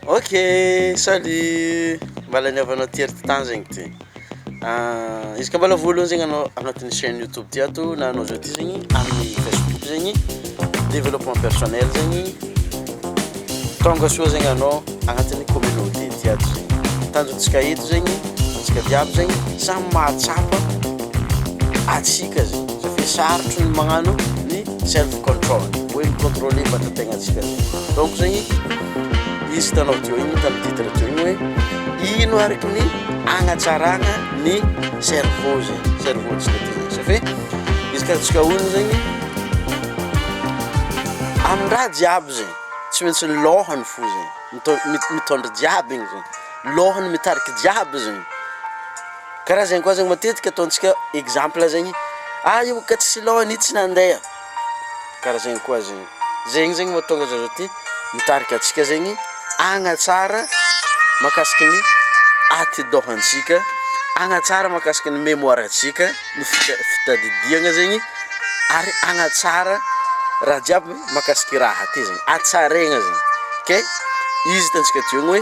Ok salut mba laniavanao ty ery tany zegny ty izy ka mbola voalohany zegny anao agnatin'ny chaine youtube ty ato na anao zao ty zegny amin'ny facebook zegny développement personnel zegny tonga soa zegny anao agnatin'ny communauté ty ato zegny tanjontsika eto zegny antsika jiaby zegny samy mahatsapa antsika zegny satria sarotro ny magnano ny Self control, hoe mi-contrôler vatategnantsika. Donc zegny, izy hitanao teo igny, hitan'ny titre teo igny hoe ino araka ny agnatsaragna ny cerveau zegny, cerveau antsika teo zegny. Ça fait, izy ka antsika olo zegny, amin-draha jiaby zegny, tsy maintsy lôhany fo zegny, mitô- mi- mitôndra jiaby igny zegny, lôhany mitarika jiaby zegny. Karaha zegny koa zegny matetika ataontsika exemple zegny ah io ka tsisy lôha anie tsy nandeha karaha zegny koa zegny, zegny zegny mahatonga za zao ty mitarika antsika zegny hagnatsara mahakasiky ny atidohantsika, hagnatsara mahakasiky ny mémoire antsika ny fita- fitadidiagna zegny ary hagnatsara raha jiaby mahakasiky raha ty zegny, hatsaraigna zegny, ke izy hitantsika eo ny hoe.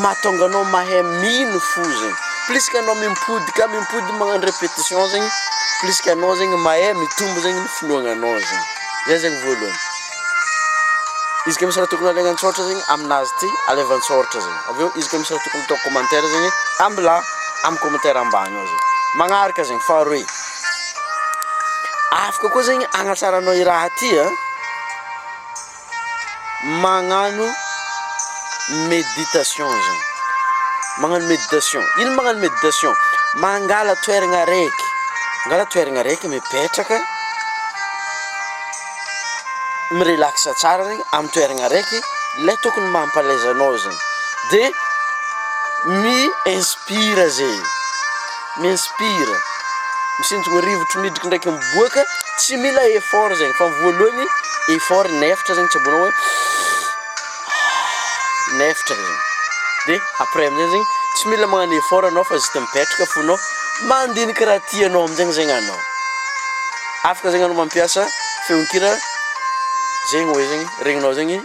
Mahatonga anao mahay mino fo zegny, plus ka anao mimpody ka mimpody magnano repetition zegny, plus ka anao zegny mahay mitombo zegny ny finoagnanao zegny, zay zegny voalohany, izy koa misy raha tokony alaigna an-tsôratra zegny aminazy ty alaivo an-tsôratra zegny, avy eo izy koa misy raha tokony atao commentaire zegny ambila amy commentaire ambany ao zegny, magnaraka zegny faharoe, afaka koa zegny agnatsaranao i raha ty an. magnano méditation zany, magnano méditation, ino magnano méditation? mangala toeragna araiky, mangala toeragna araiky mipetraka, mi-relax tsara regny amy toeragna araiky le tokony mampalaiza anao zany de mi-inspire zegny. M'inspire, misinjogna rivotro midriky ndraiky miboaka, tsy mila effort zegny fa voalohany effort ny eftra zegny tsy aboanao hoe ah ny eftra zegny de après amizay zegny tsy mila magnano effort anao fa juste mipetraka fo anao mandinika raha tianao amizegny zegny anao, afaka zegny anao mampiasa feonkira zegny hoe zegny regninao zegny.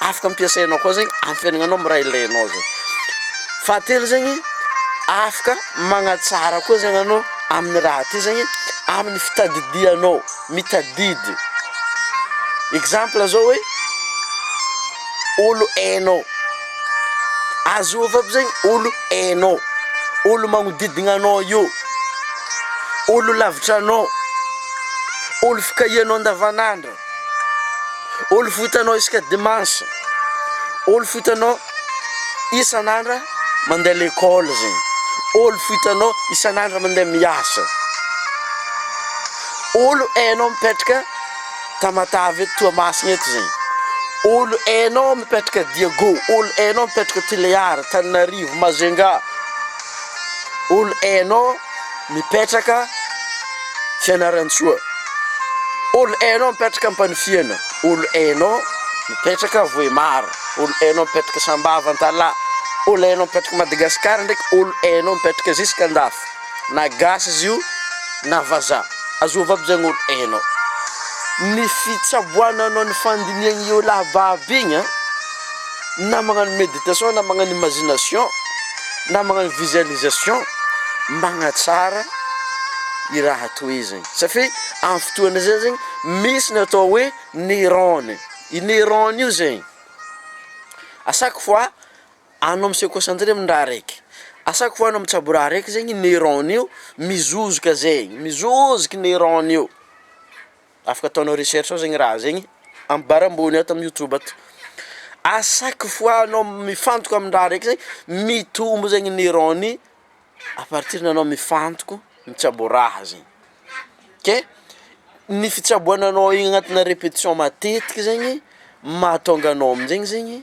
afaka ampiasainao koa zegny ampiainagnanao am' raha ilainao zay, fahatelo zegny afaka magnatsara koa zegny anao amin'ny raha ty zegny amin'ny fitadidianao, mitadidy exemple zao hoe olo hainao, azôvo aby zegny olo hainao, olo magnodidigna anao io, olo lavitranao, olo fikahianao andavanandro. Olo fohy hitanao isaka dimanche, olo fohy hitanao isan'andra mandeha lekôly zegny, olo fohy hitanao isan'andra mandeha miasa, olo hainao mipetraka Tamatave eto Toamasina eto zegny, olo hainao mipetraka Diago, olo hainao mipetraka Tulear, Antananarivo, Majunga, olo hainao. mipetraka Fianarantsoa olo hainao mipetraka Ampanifihana olo hainao mipetraka Vohémar olo hainao mipetraka Sambava Antalaha olo hainao mipetraka Madagascar ndraiky olo hainao mipetraka ziska andafy na gasy izy io na vazaha azova aby zegny olo hainao ny fitsaboananao ny fandinihagna iolahy babo igny an. na magnano meditation na magnano imagination na magnano visualisation magnatsara i raha toy izay satria amin'ny fotoana izay zegny misy ny atao hoe neurone, i neurone io zegny à chaque fois anao mi-se concentrer amin'ny raha araiky, à chaque fois anao mitsabo raha araiky zegny i neurone io mizozoka zegny, mizozoka i neurone io. afaka ataonao recherche ao zegny raha zegny amibara ambony ato amin'ny youtube ato, a chaque fois anao mifantoka amin'ny raha raiky zay mitombo zegny ny rang-ny à partir ny anao mifantoko mitsabo raha zegny, ke ny fitsaboananao igny agnatina repetition matetiky zegny mahatonga anao aminjegny zegny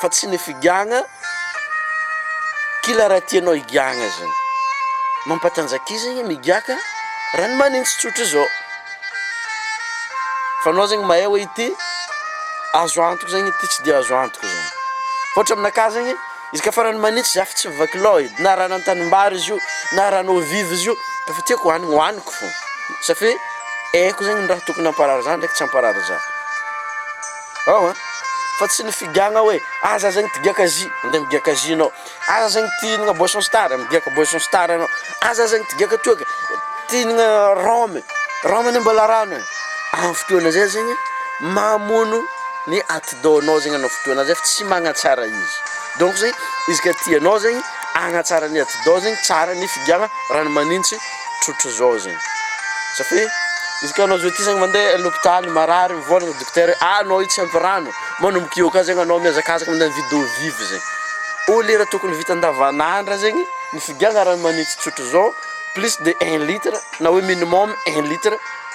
Fa tsy ny figagna kila raha tianao higagna zany mampatanjaka izy igny migaka raha ny manintsy tsotra izao fa anao zegny mahay hoe ity azo antoko zegny ity tsy de azo antoko zany fa ohatra aminakahy zegny izy ka farany manintsy za fa tsy mivaky lôha edy na raha any an-tanimbary izy io na raha any eau vive izy io de efa tiako hohanigny hohaniko fô satria haiko zegny ny raha tokony hamparary za ndraiky tsy hamparary za. Ao an! Fa tsy ny figagna hoe aza zegny ty giaka jus, mandeha migiaka jus anao, aza zegny ty hihinagna boisson star, migiaka boisson star anao, aza zegny ty giaka toaka, ty hihinagna rhum, rhum anie mbola rano e, amin'ny fotoana zay zegny mamono ny atidoha-nao zegny anao fotoana zay fa tsy magnatsara izy, donc zegny izy ka tianao zegny hagnatsara ny atidoha zegny tsara ny figagna rano manintsy. trotra zao zegny sa fe izy ka anao zao ty zany mande lopitaly marary mivôlagna dokotera hoe ah anao io tsy ampy rano manomboka eo ka zegny anao miazakazaka mande mividy eau vive zegny ô lera tokony vita andavanandra zegny ny figiahana rano magnitsy trotra zao plus de un litre na hoe minimum un litre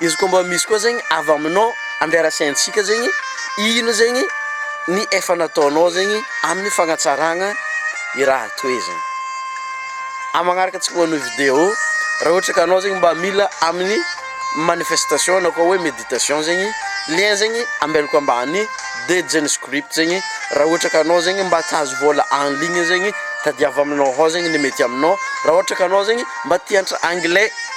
Izy koa mba misy koa zegny avy aminao andeha rasaintsika zegny ino zegny ny efa nataonao zegny amin'ny fagnatsaragna i raha toy zegny. Amin'ny magnaraka antsika manao video raha ohatra ka anao zegny mba mila amin'ny manifestation na koa hoe meditation zegny lien zegny ambelako ambany dia Jeunes Script zegny raha ohatra ka anao zegny mba tahazo vôla en ligne zegny tadiavo aminao hao zegny ny mety aminao raha ohatra ka anao zegny mba te hiantra anglais.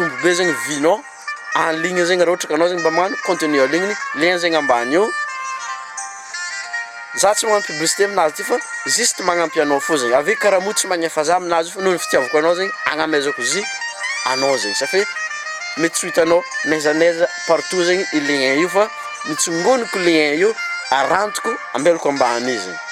Mitombo be zegny vue-nao en ligne zegny raha ohatra ka anao zegny mba magnano contenu en ligne, lien zegny ambany eo. Za tsy magnano publicité aminazy ty fa juste magnampy anao fô zegny, avy eo karaha moa tsy magnefa za aminazy io fa noho ny fitiavako anao zegny agnamezako izy anao zegny sa fe mety tsy ho hitanao n'aiza n'aiza partout zegny i lien io fa mitsongoniko lien io arantiko ambelako ambany io zegny.